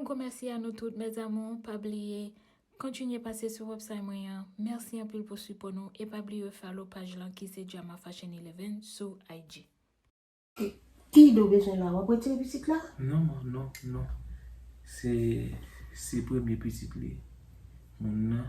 Gwo mèsi a nou tout mes amours pa bliye Kontinye pase sou website mwen an Mèsi anpil pou sipò nou e pa bliye follow paj lan ki se Jama Fashion 11 sou IG. Kiydo bezwen la wap retire pitit la. Non man non non se se premye pitit li moun nan.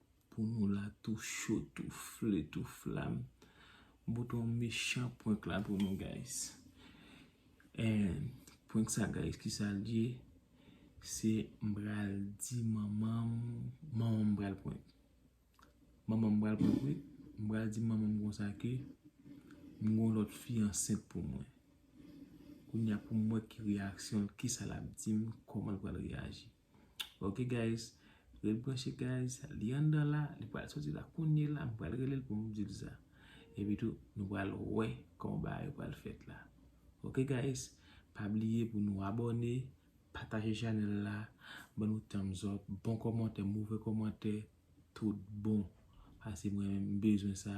Pou nou la tou cho tou fle tou flam. Bouton mechan prank la pou nou guys. And prank sa guys ki sa l ye. Se m pral di manman m. Manman m pral prank. Manman m pral prank wi. M pral di manman m konsa ke. M gon lot fi ansent pou mwen. Kounya pou m wè ki reaksyon l. Ki sa l ap di m. Koman l pral reaji. Ok guys Ret branche guys Li anndan la Li pral soti la kounye la M pral rele l pou m di l sa Epi tou nou pral wè Kòman bagay yo pral fèt la Ok guys Pa bliye pou nou abòne Pataje chanèl la Ban nou thumbs up Bon kòmantè Move kòmantè Tout bon Pase mwen menm M bezwen sa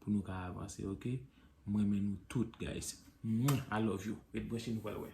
Pou nou ka avanse ok M renmen nou tout guys Mwah I love you Ret branche nou pral wè.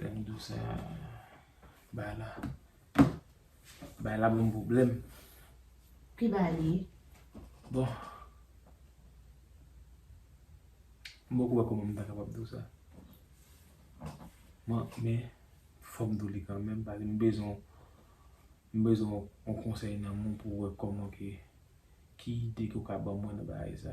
Lèm dou sa bay la bay la banm pwoblèm. Ki bay li? Bon m poko wè kòman m ta kapab dou sa. Bon men fòm dou li kanmenm paske m bezwen m bezwen yon konsèy nan men w pou wè kòman ke ki ide ke w ka ban mwen nan bagay sa.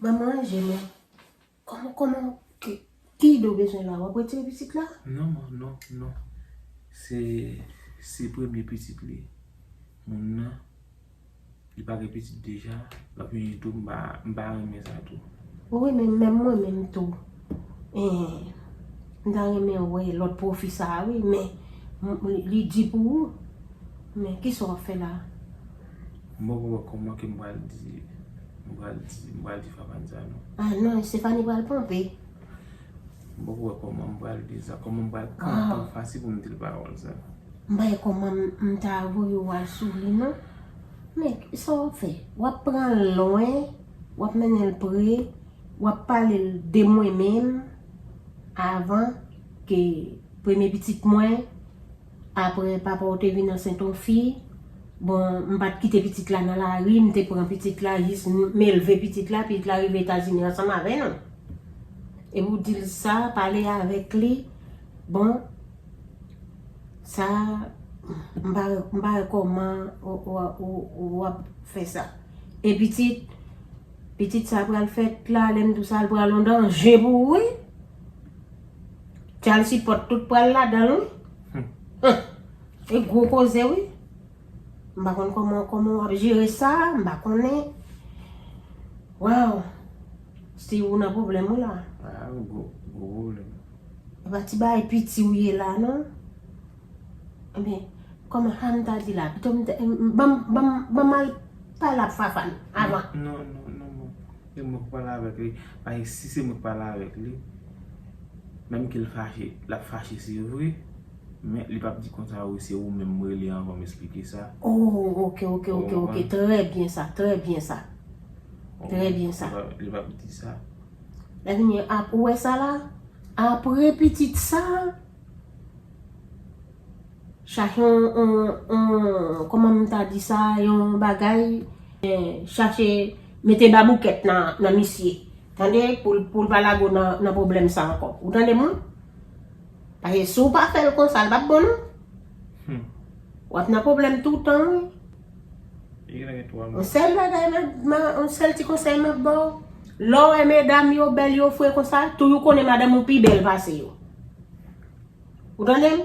Mwen manje men Koman koman ki ide ou bezwen la wap retire pitit la? Non man non non se se premye pitit li moun nan li pa gen pitit deja lap vini tou m pa renmen sa tou. Wi men menm mwen menm tou. Eeh m ta renmen wè lòt profi sa a wi men li di pou ou men kisa w ap fè la. M poko wè kòman ke m pral di m pral di m pral di Fafane sa non. Ah non Estefani pral ponpe. M poko wè kòman m pral di l sa kòman m pral kanpe an fas li pou m di l pawòl sa. M pa wè kòman m ta voye w al sou li non men sa w ap fè w ap pran l lwen w ap mennen l pre. Wap pale l de mwen menm avan ke premye pitit mwen aprè papa w te vin ansent on fi bon m pat kite pitit la nan lari m te pran pitit la jis m elve pitit la pitit la rive etazini ansanm avè nou epi w di l sa pale avèk li bon sa m pa wè kòman wap fè sa e pitit Pitit sa pral fèt la lè m tou sa l pral yon danje pou ou wi. Tchal si pot tout pral ladan l wi. Hum e gwo koze wi. M pa konn kòman kòman w ap jere sa m pa konnen. Waw Steeve ou nan pwoblèm wi la. Gwo pwoblèm. E pa ti bagay piti w ye la non. Ebyen, kòm Hann ta di la, pito m banm banm banm al pale ak Fafane avan. Non, non, non banm. Se mwen ki pral avèk li. Paske si se mwen ki pral avèk li, menm ke l fache, l ap fache se vre, men li p ap di konsa wi, se ou menm m rele avan m esplike sa. O, ok, ok, ok, ok, trè byen sa, trè byen sa. Trè byen sa. Li p ap di sa. Lè vini, ou wè sa la? Apre pitit sa? Chache yon kòman m ta di sa yon bagay chache mete baboukèt nan misye tande pou l pa lago nan pwoblèm sa ankò ou tande m wi paske si w pa fè l konsa l pap bon non w ap nan pwoblèm toutan wi yon sèl bagay yon sèl ti konsèy m ap ba w lè w wè medam yo bèl yo fre konsa toujou konnen madanm ou pi bèl pase yo Ou tande m?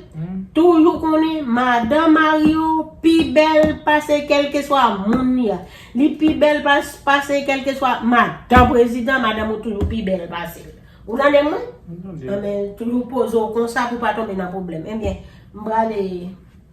Toujou konnen madan mari w pi bèl pase kèlkeswa moun li a. Li pi bèl pase kèlkeswa madan prezidan, madanm ou toujou pi bèl pase l. Ou tande m wi? Mwen tande w. Anben, toujou poze w konsa pou w pa tonbe nan pwoblèm. Enben, m prale.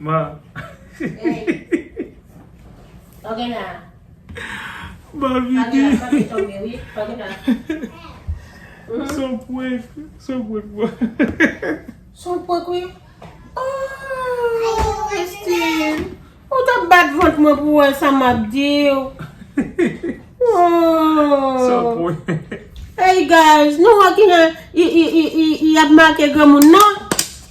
Bon. Bon vidi. Son prank. Son prank bro. Son prank wi. Oh Christine. Ou ta bat vant mwen pou wè sa m ap di w. Son prank. Hey guys. Nou wè ki lè y ap make granmoun nan.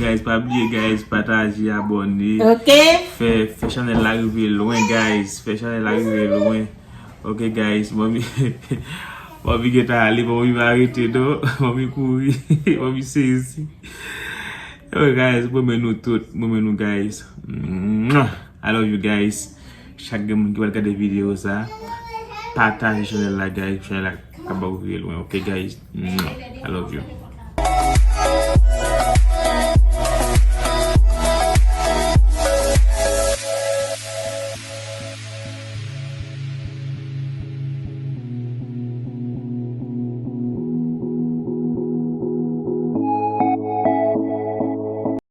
Guys pa bliye guys pataje abone fè chanel la rive lwen guys fè chanel la rive lwen ok guys manmi gentan ale manmi pa rete non manmi kouri manmi sezi ok guys mwen renmen nou tout mwen renmen nou guys I love you guys. Chak gen moun ki pral gade video sa Pataje chanel la guys pou chanel la ka ba ou rive lwen ok guys mwah I love you.